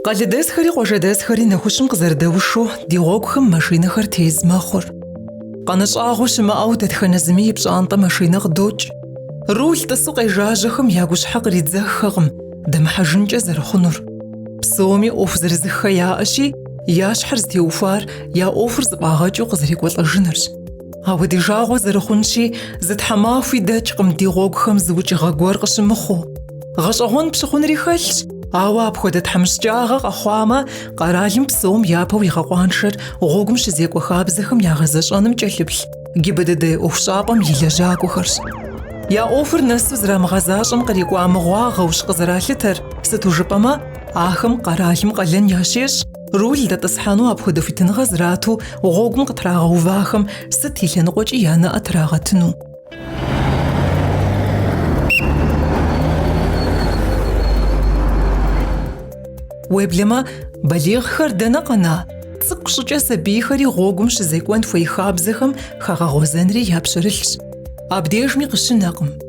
Къалэдэсхэри къуажэдэсхэри нэхущым къызэрыдэушу ди гъуэгухэм машинэхэр тез мэхъур. Къанэ щӏагъуэ щымыӏэу дэтхэнэ зыми и пщӏантӏэ машинэ къыдокӏ. Руль тӏысу къежажьэхэм я гущхьэ къридзэххэкъым дэмыхьэжынкӏэ зэрыхъунур. Псоми ӏуэху зырызыххэ яӏэщи, Я щхьэр зытеухуар я ӏуэхур зыфӏагъэкӏыу къызэрекӏуэлӏэжынырщ. Ауэ ди жагъуэ зэрыхъунщи, зы тхьэмахуи дэкӏкъым ди гъуэгухэм зы укӏыгъэ гуэр къыщымыхъуу. Гъэщӏэгъуэн пщыхъунри хэлъщ, ауэ апхуэдэ тхьэмыщкӏагъэ къэхъуамэ, къэралым псом япэу игъэкъуаншэр гъуэгум щызекӏуэ хабзэхэм ягъэзэщӏэным кӏэлъыплъ ГИБДД ӏуэхущӏапӏэм и лэжьакӏуэхэрщ. Я ӏуэхур нэсу зэрамыгъэзащӏэм кърикӏуа мыгъуагъэущ къызэралъытэр, сыту жыпӏэмэ, Ахэм къэралым къалэн ящещӏ, руль дэтӏысхьэну апхуэдэ хуитыныгъэ зрату гъуэгум къытрагъэувахэм сыт и лъэныкъуэкӏи я нэӏэ трагъэтыну. Уеблэмэ, балигъхэр дэнэ къэна? Цӏыкӏу щӏыкӏэ сабийхэри гъуэгум щызекӏуэн хуей хабзэхэм хагъэгъуэзэнри я пщэрылъщ. Абдежми къыщынэкъым.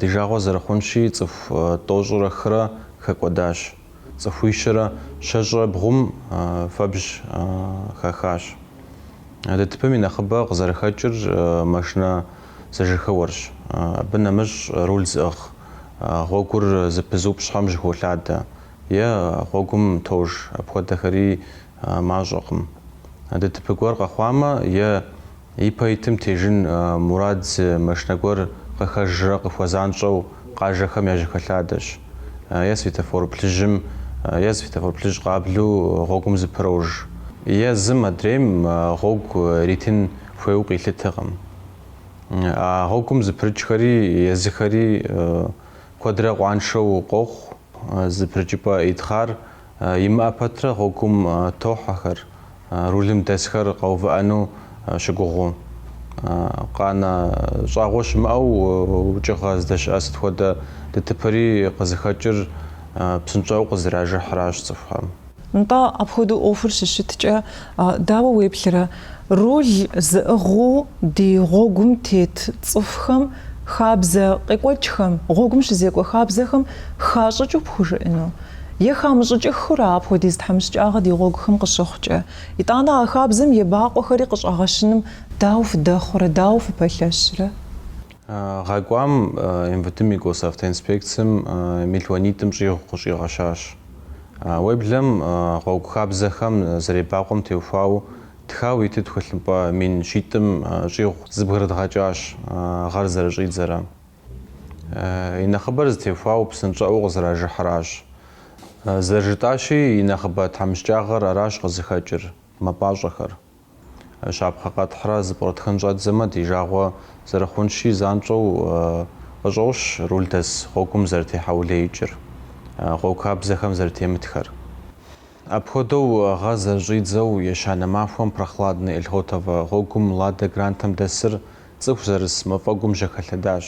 Ди жагъуэ зэрыхъунщи, цӏыху тӏощӏрэ хырэ хэкӏуэдащ, цӏыхуищэрэ щэщӏрэ бгъум фэбжь хахащ. ДТП-м и нэхъыбэ къызэрыхэкӏыр машинэ зэжьэхэуэрщ. Абы нэмыщӏ руль зыӏыгъ гъуэгур зэпызыупщӏхэм жьэхолъадэ е гъуэгум тож, апхуэдэхэри мащӏэкъым. ДТП гуэр къэхъуамэ е. Ипэ итым тежын мурад зы машинэ гуэр къыхэжрэ къыхуэзанщӏэу къажэхэм яжьэхэлъадэщ. Е светофор плъыжьым, е светофор плъыжь къаблэу гъуэгум зэпрож. Е зым адрейм гъуэгу иритын хуейуэ къилъытэкъым. А гъуэгум зэпрыкӏхэри езыхэри куэдрэ къуаншэу къохъу, зэпрыкӏыпӏэ итхъар Имыӏэ пэтрэ гъуэгум тохьэхэр, рулым дэсхэр къэувыӏэну щыгугъыу. Къанэ щӏагъуэ щымыӏэу укӏыгъэ здэщыӏэ сыт хуэдэ ДТП-ри къызыхэкӏыр псынщӏэу къызэражыхьращ цӏыхухэм. Нтӏэ, апхуэдэу ӏуэхур щыщыткӏэ, дауэ уеплърэ, руль зыӏыгъыу ди гъуэгум тет цӏыхухэм хабзэ къекӏуэкӏхэм, гъуэгум щызекӏуэ хабзэхэм хащӏыкӏыу пхужыӏэну? Е хамыщӏыкӏыххэу ара апхуэдиз тхьэмыщкӏагъэ ди гъуэгухэм къыщыхъукӏэ? Итӏанэ а хабзэм ебакъуэхэри къыщӏэгъэщыным дауэ фыдэхъурэ, дауэ фыпэлъэщрэ? Гъэ кӏуам МВД-м и госавтоинспекцэм мелуанитӏым щӏигъу къыщӏигъэщащ. Уеблэм гъуэгу хабзэхэм зэребакъуэм теухуауэ тхауэ иту тхылъымпӏэ мин щитӏым щӏигъу зэбгрыдгъэкӏащ гъэр зэрыщӏидзэрэ. И нэхъыбэр зытеухуауэ псынщӏэӏуэу къызэражыхьыращ. Зэрыжытӏащи, и нэхъыбэ тхьэмыщкӏагъэр аращ къызыхэкӏыр, мэпӏащӏэхэр. Щапхъэ къэтхьрэ зэпкърытхын щӏэддзэмэ, ди жагъуэ зэрыхъунщи занщӏэу къыщӏощ рулдэс гъуэгум зэрытехьэулеикӏыр, гъуэгу хабзэхэм зэрытемытхэр. Апхуэдэу гъэ зэрыщӏидзэу ещанэ махуэм Прохладный Эльхотово гъуэгум Лада Грантэм дэсыр цӏыху зэрыс мафӏэгум жьэхэлъэдащ.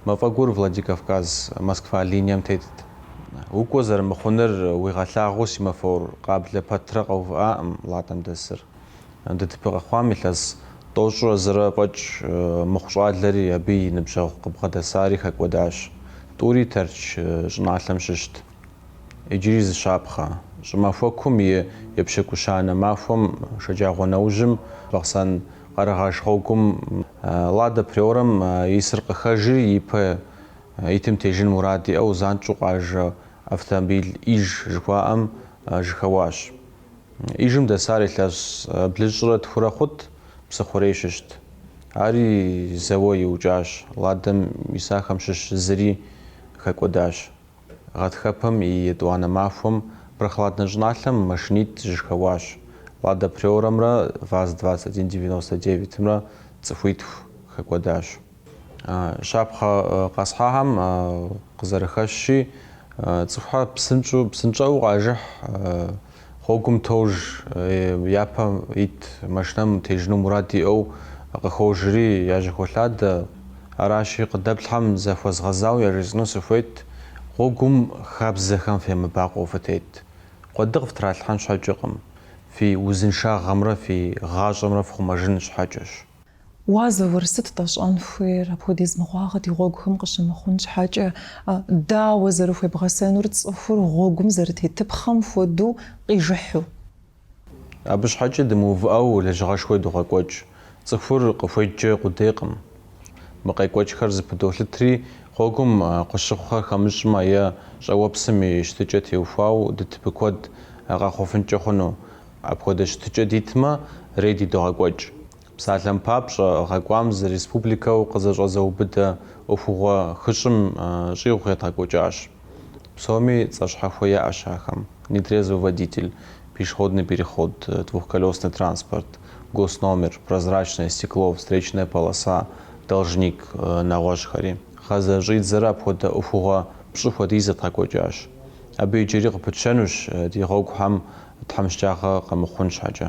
Мафӏэгур Владикавказ, Москва линием тетт. Укӏуэ зэрымыхъуныр уигъэлъагъуу семафор къаблэ пэтрэ къэувыӏакъым Ладэм дэсыр. ДТП къэхъуам илъэс тӏощӏрэ зырэ фӏэкӏ мыхъу щӏалэри абы и ныбжьэгъу къыбгъэдэсари хэкӏуэдащ. Тӏури Тэрч щӏыналъэм щыщт. Иджыри зы щапхъэ. Щӏымахуэкум и епщыкӏущанэ махуэм шэджагъуэ нэужьым Бахъсэн Къэрэгъэш гъуэгум Лада Приорэм исыр къыхэжри ипэ итым тежын мурад иӏэу занщӏэу къажэ автомобиль Иж жыхуаӏэм жьэхэуащ. Ижым дэсар илъэс блыщӏрэ тхурэ хъут Псыхъурей щыщт. Ари зэуэ иукӏащ, Ладэм исахэм щыщ зыри хэкӏуэдащ. Гъатхэпэм и етӏуанэ махуэм Прохладнэ щӏыналъэм машинитӏ зэжьэхэуащ. Лада Приорэмрэ ВАЗ двадцать один девяносто девятымрэ цӏыхуитху хэкӏуэдащ. Щапхъэ къэсхьахэм къызэрыхэщщи, цӏыхухэр псынщӏэу къажыхь. Гъуэгум тож япэ ит машинэм тежыну мурад иӏэу къыхожри яжьэхолъадэ. Аращи, къыдэплъхэм захуэзгъэзауэ яжесӏэну сыхуейт. Гъуэгум хабзэхэм фемыбакъуэу фытет. Къуэды къыфтралъхьэн щхьэкӏэкъым, фи узыншагъэмрэ фи гъащӏэмрэ фхъумэжын щхьэкӏэщ. Уа, Заур, сыт тщӏэн хуейр, апхуэдиз мыгъуагъэ ди гъуэгухэм къыщымыхъун щхьэкӏэ? Дауэ зэрыхуебгъэсэнур цӏыхур гъуэгум зэрытетыпхъэм хуэдэу къижыхьу? Абы щхьэкӏэ дымыувыӏэу лэжьыгъэшхуэ догъэкӏуэкӏ. Цӏыхур къыхуедджэ къудейкъым. Мы къекӏуэкӏхэр зэпыдолъытри, гъуэгум къыщыхъухэр хэмыщӏмэ е щӏыуэпсым и щытыкӏэ теухуауэ ДТП куэд къэхъуфынкӏэ хъуну. Апхуэдэ щытыкӏэ дитмэ, рейди догъэкӏуэкӏ. Псалъэм папщӏэ, гъэ кӏуам зэрыреспубликэу къызэщӏэзыубыдэ ӏуэхугъуэ хыщӏым щӏигъу едгъэкӏуэкӏащ. Псоми цӏэ щхьэхуэ яӏэщ ахэм, нетрезвый водитель, пешеходный переход, двухколесный транспорт, госномер, прозрачное стекло, встречная полоса, должник, нэгъуэщӏхэри. Гъэр зэрыщӏидзэрэ апхуэдэ ӏуэхугъуэ пщӏы хуэдиз едгъэкӏуэкӏащ. Абы иджыри къыпытщэнущ, ди гъуэгухэм тхьэмыщкӏагъэ къэмыхъун щхьэкӏэ.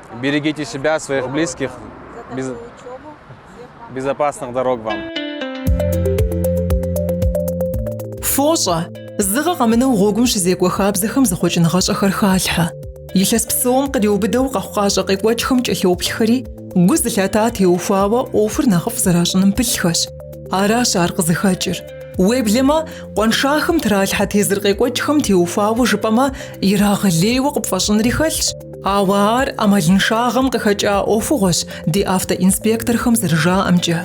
Берегите себя, своих близких. Без... Безопасных дорог вам. Фощӏэ, зы гъэ къэмынэу гъуэгум щызекӏуэ хабзэхэм зэхъуэкӏыныгъэщӏэхэр халъхьэ. Илъэс псом къриубыдэу къэхъукъащӏэ къекӏуэкӏхэм кӏэлъоплъхэри, гу зылъата теухуауэ ӏуэхур нэхъыфӏ зэращӏыным пылъхэщ. Аращ ар къызыхэкӏыр. Уеблэмэ, къуаншахэм тралъхьэ тезыр къекӏуэкӏхэм теухуауэ жыпӏэмэ, ирагъэлейуэ къыпфӏэщӏынри хэлъщ. Ауэ ар ӏэмалыншагъэм къыхэкӏа ӏуэхугъуэщ, ди автоинспекторхэм зэрыжаӏэмкӏэ.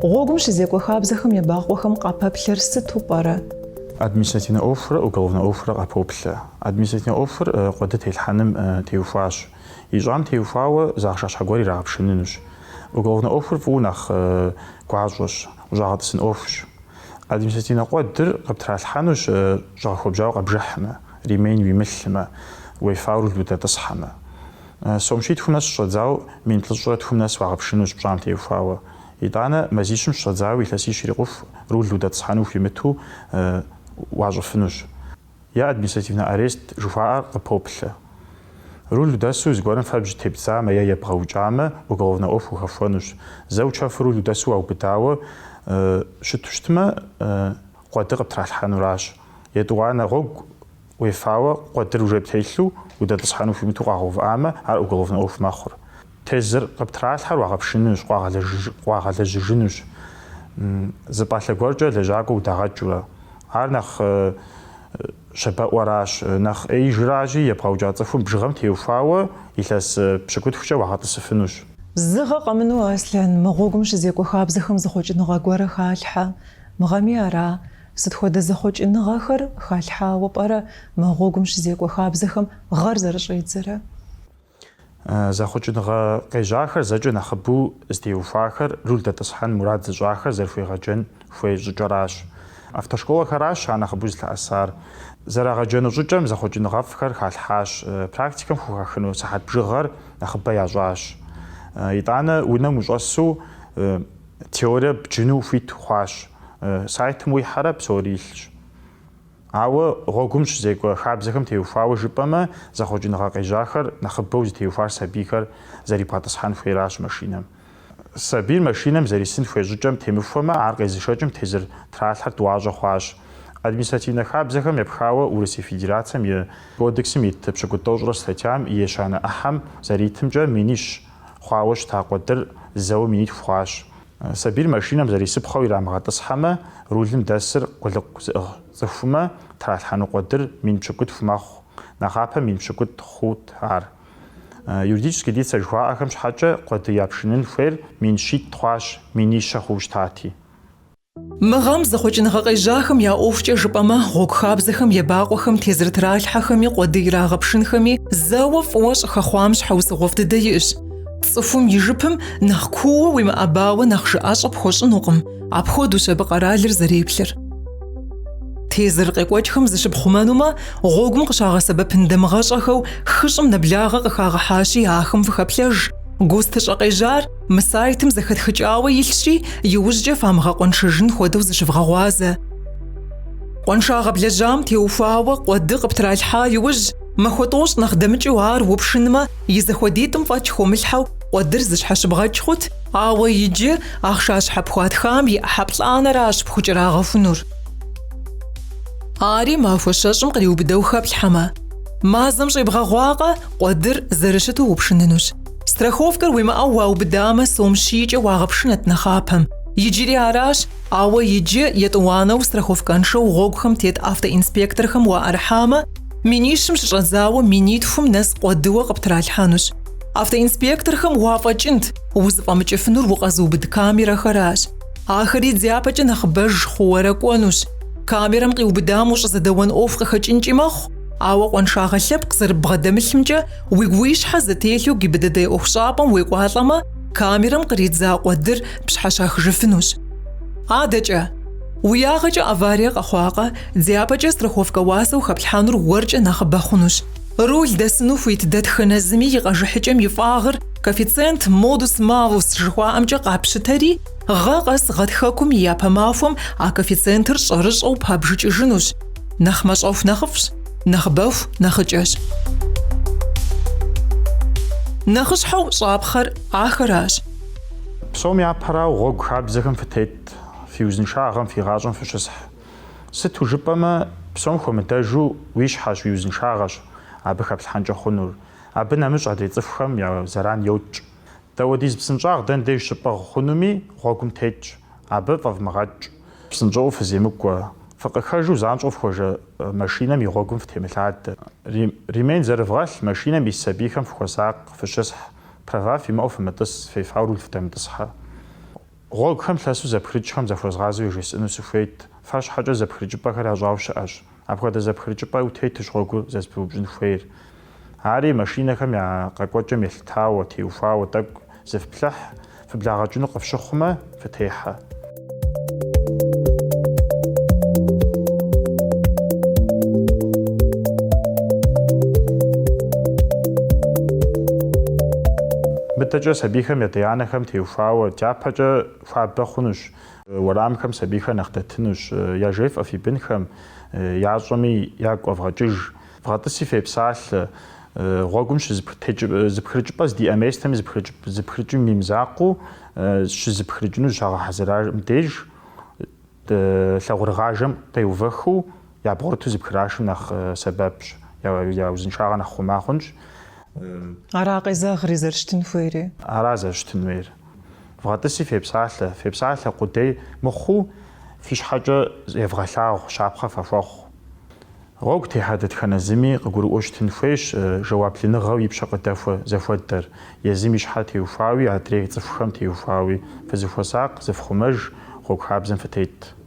Гъуэгум щызекӏуэ хабзэхэм ебакъуэхэм къапэплъэр сыту пӏэрэ? Административнэ ӏуэхурэ уголовнэ ӏуэхурэ къапоплъэ. Административнэ ӏуэхур къуэды телъхьэным теухуащ. Ищӏам теухуауэ зы ахъшэ щхьэ гуэр ирагъэпшынынущ. Уголовнэ ӏуэхур фӏыуэ нэхъ гуащӏэщ, ущӏагъэтӏысын ӏуэхущ. Административнэ къуэдыр къыптралъхьэнущ щӏэгъэхуэбжьауэ къэбжыхьмэ, ремень уимылъмэ, уефауэ руль удэтӏысхьэмэ. Сом щитхум нэс щыщӏэдзауэ мин плӏыщӏрэ тхум нэс уагъэпшынущ пщӏам теухуауэ. Итӏанэ мазищым щыщӏэдзауэ илъэсищ ирикъуху руль удэтӏысхьэну ухуимыту уащӏыфынущ. е административнэ арест жыхуаӏэр къыпоплъэ. Руль удэсу зыгуэрым фэбжь тебдзамэ е ебгъэукӏамэ, уголовнэ ӏуэху ухэхуэнущ. Зэ учэфу руль удэсу уаубыдауэ щыту щытмэ, къуэды къыптралъхьэнуращ. Етӏуанэ гъуэгу уефауэ къуэдыр уже птелъу удэтӏысхьэну ухуимыту укъагъэувыӏамэ, ар уголовнэ ӏуэху мэхъур. Тезыр къыптралъхьэр уагъэпшынущ, къуагъэлэжьыжынущ. Зы пӏалъэ гуэркӏэ лэжьакӏуэ удагъэкӏыурэ. Ар нэхъ щабэӏуэращ, нэхъ ӏеижращи, ебгъэукӏа цӏыхум бжыгъэм теухуауэ илъэс пщыкӏутхукӏэ уагъэтӏысыфынущ. Зы гъэ къэмыну, Аслъэн, мы гъуэгум щызекӏуэ хабзэхэм зэхъуэкӏыныгъэ гуэрэ халъхьэ. Мы гъэми ара? Сыт хуэдэ зэхъуэкӏыныгъэхэр халъхьауэ пӏэрэ мы гъуэгум щызекӏуэ хабзэхэм гъэр зэрыщӏедзэрэ? Зэхъуэкӏыныгъэ къежьахэр зэкӏэ нэхъыбэу зытеухуахэр руль дэтӏысхьэн мурад зыщӏахэр зэрыхуегъэджэн хуей щӏыкӏэращ. Автошколэхэращ ар нэхъыбэу зылъэӏэсар. Зэрагъэджэну щӏыкӏэм зэхъуэкӏыныгъэфӏхэр халъхьащ, практикэм хухахыну сыхьэт бжыгъэр нэхъыбэ ящӏащ. Итӏанэ унэм ущӏэсу теорие бджыну ухуит хъуащ. Сайтым уихьэрэ псори илъщ. Ауэ гъуэгум щызекӏуэ хабзэхэм теухуауэ жыпӏэмэ, зэхъуэкӏыныгъэ къежьахэр нэхъыбэу зытеухуар сабийхэр зэрибгъэтӏысхьэн хуейращ машинэм. Сабийр машинэм зэрисын хуей щӏыкӏэм темыхуэмэ, ар къезышэкӏым тезыр тралъхьэр тӏуащӏэ хъуащ. Административнэ хабзэхэм епхауэ Урысей Федерацием и Кодексым ит пщыкӏутӏ тӏощӏрэ статьям и ещанэ ӏыхьэм зэритымкӏэ минищ хъуауэ щыта къуэдыр зэуэ минитху хъуащ. Сабийр машинэм зэрисыпхъэу ирамыгъэтӏысхьэмэ, рулым дэсыр къулыкъу зыӏыгъ цӏыхумэ тралъхьэну къуэдыр мин пщыкӏутху мэхъу, нэхъапэ мин пщыкӏутӏ хъут ар. Юридически лицэ жыхуаӏэхэм щхьэкӏэ къуэды япшынын хуейр мин щитӏ хъуащ, минищэ хъуу щытати. Мы гъэм зэхъуэкӏыныгъэ къежьахэм я ӏуэхукӏэ жыпӏэмэ, гъуэгу хабзэхэм ебакъуэхэм тезыр тралъхьэхэми, къуэды ирагъэпшынхэми зэуэ фӏыуэ щӏыхэхъуам щхьэусыгъуэфӏ дыдэ иӏэщ. Цӏыхум и жыпым нэхъ куууэ уимыӏэбауэ нэхъ жыӏэщӏэ пхуэщӏынукъым, апхуэдэущ абы къэралыр зэреплъыр. Тезыр къекӏуэкӏхэм зыщыпхъумэнумэ, гъуэгум къыщагъэсэбэпын дамыгъэщӏэхэу хыщӏым нэблагъэ къыхагъэхьащи, ахэм фыхэплъэж, ГОСТ-ыщӏэ къежьар, Мы сайтым зэхэтхыкӏауэ илъщи, иужькӏэ фамыгъэкъуэншэжын хуэдэу зыщывгъэгъуазэ. Къуэншагъэ блэжьам теухуауэ къуэды къыптралъхьа иужь, махуэ тӏощӏ нэхъ дэмыкӏыу ар упшынмэ, и зэхуэдитӏым фӏэкӏ хыумылъхьэу къуэдыр зыщхьэщыбгъэкӏ хъут, ауэ иджы ахъшащхьэ пхуатхам и ӏыхьэ плӏанэращ пхукӏэрагъэхунур. Ари махуэ щэщӏым къриубыдэу хэплъхьэмэ. Мазэм щӏебгъэгъуакъэ, къуэдыр зэрыщыту упшынынущ. Страховкэр уимыӏэу уаубыдамэ, сом щийкӏэ уагъэпшынэт нэхъапэм. Иджыри аращ, ауэ иджы етӏуанэу страховкэншэу гъуэгухэм тет автоинспекторхэм уаӏэрыхьамэ, минищым щыщӏэдзауэ минитхум нэс къуэдыуэ къыптралъхьэнущ. Автоинспекторхэм уафӏэкӏынт, узыфӏэмыкӏыфынур укъэзыубыд камерэхэращ. Ахэри дяпэкӏэ нэхъыбэж хъууэрэ кӏуэнущ. Камерэм къиубыдам ущӏызэдэуэн ӏуэху къыхэкӏынкӏи мэхъу, ауэ къуаншагъэ лъэпкъ зэрыббгъэдэмылъымкӏэ, Уигу уи щхьэ зэтелъу ГИБДД ӏуэхущӏапӏэм уекӏуалӏэмэ, камерэм къридза къуэдыр пщхьэщахыжыфынущ. Адэкӏэ, уи ягъэкӏэ аварие къэхъуакъэ, дяпэкӏэ страховкэ уасэу хэплъхьэнур уэркӏэ нэхъыбэ хъунущ. Руль дэсыну хуит дэтхэнэ зыми и къэжыхьыкӏэм и фӏагъыр коэффициент бонус-малус жыхуаӏэмкӏэ къапщытэри, гъэ къэс гъэтхэкум и япэ махуэм а коэффициентыр щӏэрыщӏэу пабжыкӏыжынущ, нэхъ мащӏэху нэхъыфӏщ. нэхъыбэху нэхъыкӏэщ. Нэхъыщхьэу щӏапхъэр ахэращ. Псом япэрауэ гъуэгу хабзэхэм фытет, фи узыншагъэм, фи гъащӏэм фыщысхь. Сыту жыпӏэмэ, псом хуэмыдэжу уи щхьэщ, уи узыншагъэщ абы хэплъхьэнкӏэ хъунур. Абы нэмыщӏ адрей цӏыхухэм я зэран йокӏ. Дауэдиз псынщӏагъ дэн деж щыпӏыгъ хъунуми гъуэгум тетщ, абы фӏэвмыгъэкӏ. Псынщӏэу фыземыкӏуэ, фыкъыхэжу занщӏэу фхуэжэ машинэм и гъуэгум фытемылъадэ. Ремень зэрывгъэлъ машинэм ис сабийхэм фыхуэсакъ, фыщысхь, права фимыӏэу фымытӏыс, фефауэ руль фыдэмытӏысхьэ. Гъуэгухэм лъэсу зэпхрыкӏхэм захуэзгъазэу яжесӏэну сыхуейт, фэ щхьэкӏэ зэпхрыкӏыпӏэхэр ящӏауэ щыӏэщ. Апхуэдэ зэпхрыкӏыпӏэ утетущ гъуэгур зэрызэпыбупщӏын хуейр. Ари машинэхэм я къэкӏуэкӏэм елъытауэ, теухуауэ тӏэкӏу зыфплъыхь, фыблагъэкӏыну къыфщыхъумэ, фытехьэ. Мыдэкӏэ сабийхэм я адэ-анэхэм теухуауэ дяпэкӏэ хуабэ хъунущ Уэрамхэм сабийхэр нэхъ дэтынущ, яжефӏэ фи бынхэм, ящӏэми ягу къэвгъэкӏыж. Вгъэтӏыси фепсалъэ. Гъуэгум щызыпхрыкӏыпӏэ здиӏэ местэми зыпхрыкӏым и мызакъуэу щызыпхрыкӏыну зыщагъэхьэзырам деж, лъакъуэрыгъажэм къеувэхыу ябгъурыту зыпхрашым нэхъ сэбэпщ, я узыншагъэр нэхъ хъума хъунщ. Ара къезэгъри, зэрыщытын хуейри. Ара зэрыщытын хуейр. Вгъэтӏыси фепсалъэ, фепсалъэ къудей мыхъуу фи щхьэкӏэ евгъэлъагъу, щапхъэ фахуэхъу. Гъуэгу техьэ дэтхэнэ зыми къыгурыӏуэу щытын хуейщ жэуаплыныгъэу и пщэ къыдэхуэ зыхуэдэр, езым и щхьэ теухуауи адрей цӏыхухэм теухуауи фызэхуэсакъ, зыфхъумэж, гъуэгу хабзэм фытет.